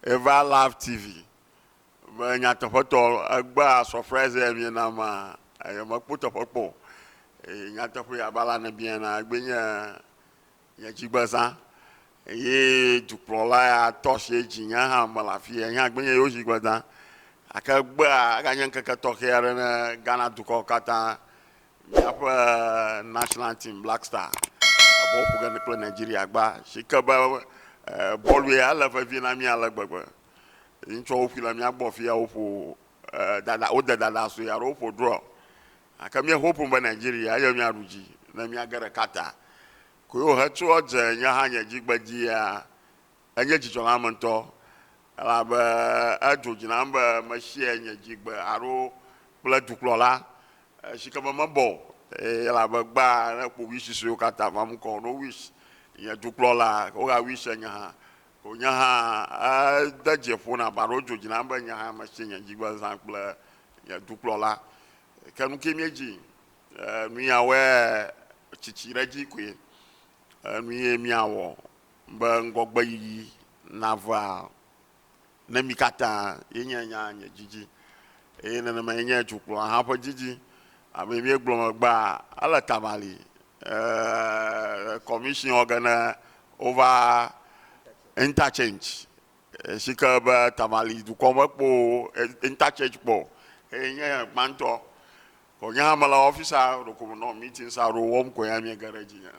Eva love TV me nyateƒetɔ egbea surprise ya mie na ma eye me kpɔ teƒe kpɔ eye nyateƒe ya bala ne bia na egbe nye nye dzigbe zã eye dukplɔla ya tɔ si edzi nye hã me la fi enya gbe nye yewo dzigbe zã ake egbea ega nye nkeke tɔxɛ aɖe ne Ghana dukɔ katã míaƒe national team Black Star bɔl ƒo ge kple Nigeria gba si ke be bɔlu ya ele vevi na mí ale gbegbe. Ŋutsɔ woƒui le mía gbɔ afi ya woƒo dada wode dada sue alo woƒo draw. Gake mía hope be Nigeria eye míaɖu dzi ne míage ɖe Qatar. Koe wohe tso edze nye hã nye dzi gbe dzia Enye dzidzɔ nam ŋutɔ elabe edzo dzi nam be mesia nye dzigbe alo kple dukplɔla si ke me mebɔ o elabe egbea ne kpovi susuewo katã va mu kɔ no wis nye dukplɔla woga wis enye hã ko nye hã ede dze ƒo nam alo dzo dzi nam be nye hã mesi nye dzigbe zã kple nye dukplɔla ke nuke mie dzi nuya wɔe tsitsi ɖe dzi koe nuye mia wɔ be ŋgɔgbeyiyi navea ne mí katã ye nye nya nye didi eye nenema ye nye dukplɔla hã ƒe didi. Abe míegblɔ megbea, ele tamali ee commission wɔ ge ne wova interchange si ke be tamali dukɔ me kpo interchange kpɔ eye nye gbãtɔ ko nye hã mele office a ɖeko me nɔ meetings aɖewo wɔm ko ya míege ɖe edzi nye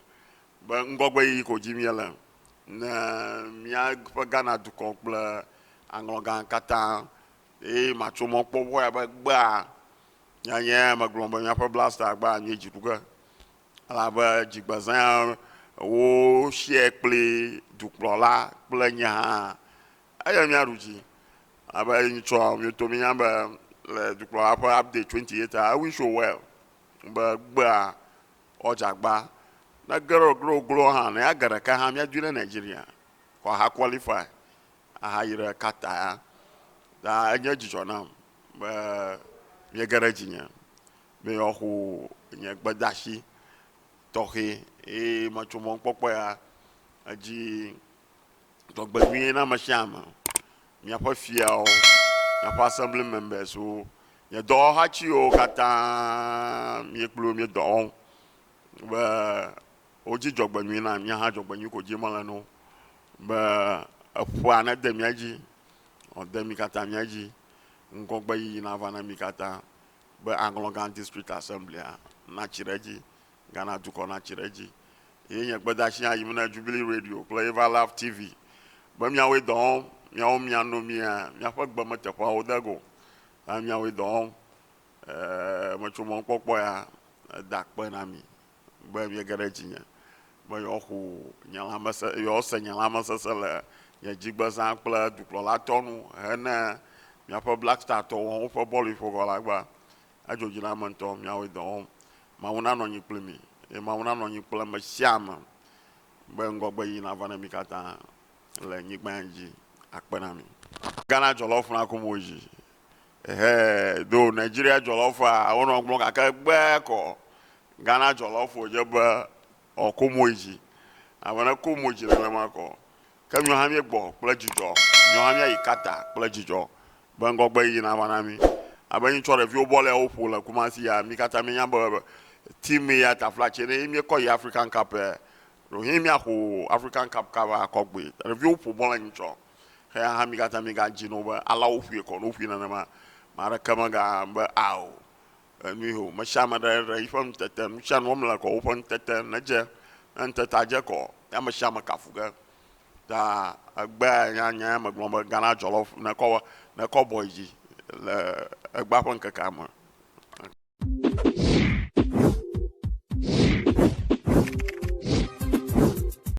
Be ŋgɔgbeyiyi ko dim míele ne míaƒe Ghana dukɔ kple aŋlɔgã katã eye matso mɔ kpɔ ŋu abe gbea nyanye megblɔ be míaƒe blaster gbe anyi dziɖuge elabe dzigbezẽa wo share kpli dukplɔla kple nye hã eye míaɖu dzi elabe nyitsɔ mioto mínya be le dukplɔla ƒe update 28 a ewin so well be gbea ɔ dzagbaa ne gero gero glo hã ne ya ge ɖeka hã mia dui ɖe Nigeria kɔ aha qualify aha yi ɖe Qatar ya ta enye dzidzɔ nam be mie ge ɖe dzi nye be yɔ xo nye gbedashi tɔxe eye me tso mɔnkpɔkpɔ ya edzi. Dzɔgbenyui na ame sia ame, miaƒe fiawo, miaƒe assembly members wo, nye dɔwɔhatiwo katã mi kpli wo mi dɔ wɔm be wodzi dzɔgbenyui na mi hã dzɔgbenyui ko dzi mele na wo be eƒea nede mia dzi wòade mi katã mia dzi ŋgɔgbe yiyi nava na mi katã be Aŋlɔgã district assembly natsi ɖe edzi Ghana dukɔ natsi ɖe edzi Ye nye gbedeasi hã yim na Jubilee Radio kple Eva Love TV be miawoe dɔ wɔm, miawo miano mia miaƒe gbe me teƒeawo de go, hã miawoe dɔ wɔm. Eee, metso mɔnukpɔkpɔ ya da akpe na mi be miege ɖe dzinye be yewoaxu nye lãmese, yewoase nye lãmesesẽ le nye dzigbezã kple dukplɔlatɔ nu hene miaƒe Black Star tɔwo hã woƒe bɔluiƒoʋɔlagba Adzɔ dzi na ame ŋutɔ, miawoe dɔ wɔm. Mawu nanɔ anyi kpli mi, eye Mawu nanɔ anyi kple ame sia ame be ŋgɔgbeɣi nava na mi katã le nyigba ya dzi akpe na mi. Ghana dzɔlawo ƒona ku mo dzi. Ehee, though Nigeria dzɔlawo faa wo nɔ gblɔm gake gbe kɔ Ghana dzɔlawo ƒo dze be ɔ ku mo dzi. Ame ne ku mo dzi nenema kɔ Ke míwo hã míegbɔ kple dzidzɔ. Míwo hã míayi Qatar kple dzidzɔ be ŋgɔgbe yiyi nava na mí. Abe ŋtsɔ ɖeviwo bɔl ya woƒo le Kumasi ya, mí katã míenya be team ya ta flatse ɖe ye míekɔ yi African Cup ya. Ɖewohĩ míaƒo African Cup kaba akɔ gbɔe. Ɖeviwo ƒo bɔl ŋtsɔ. Eya hã mí katã mígadzi nɔ be alea woƒoe kɔ. Ne woƒoe nenema, ame aɖeke megabu be ao Enui ho, mesia ame ɖe ɖe yiƒe ŋutete, nusianu wɔm le kɔ woƒe ŋutete nedze, ne ŋutetea dze kɔ ya mesiame kafu ge ta egbea ya nya ya megblɔ be Ghana jollof nekɔ nekɔ bɔ yi dzi le egbea ƒe ŋkekea me.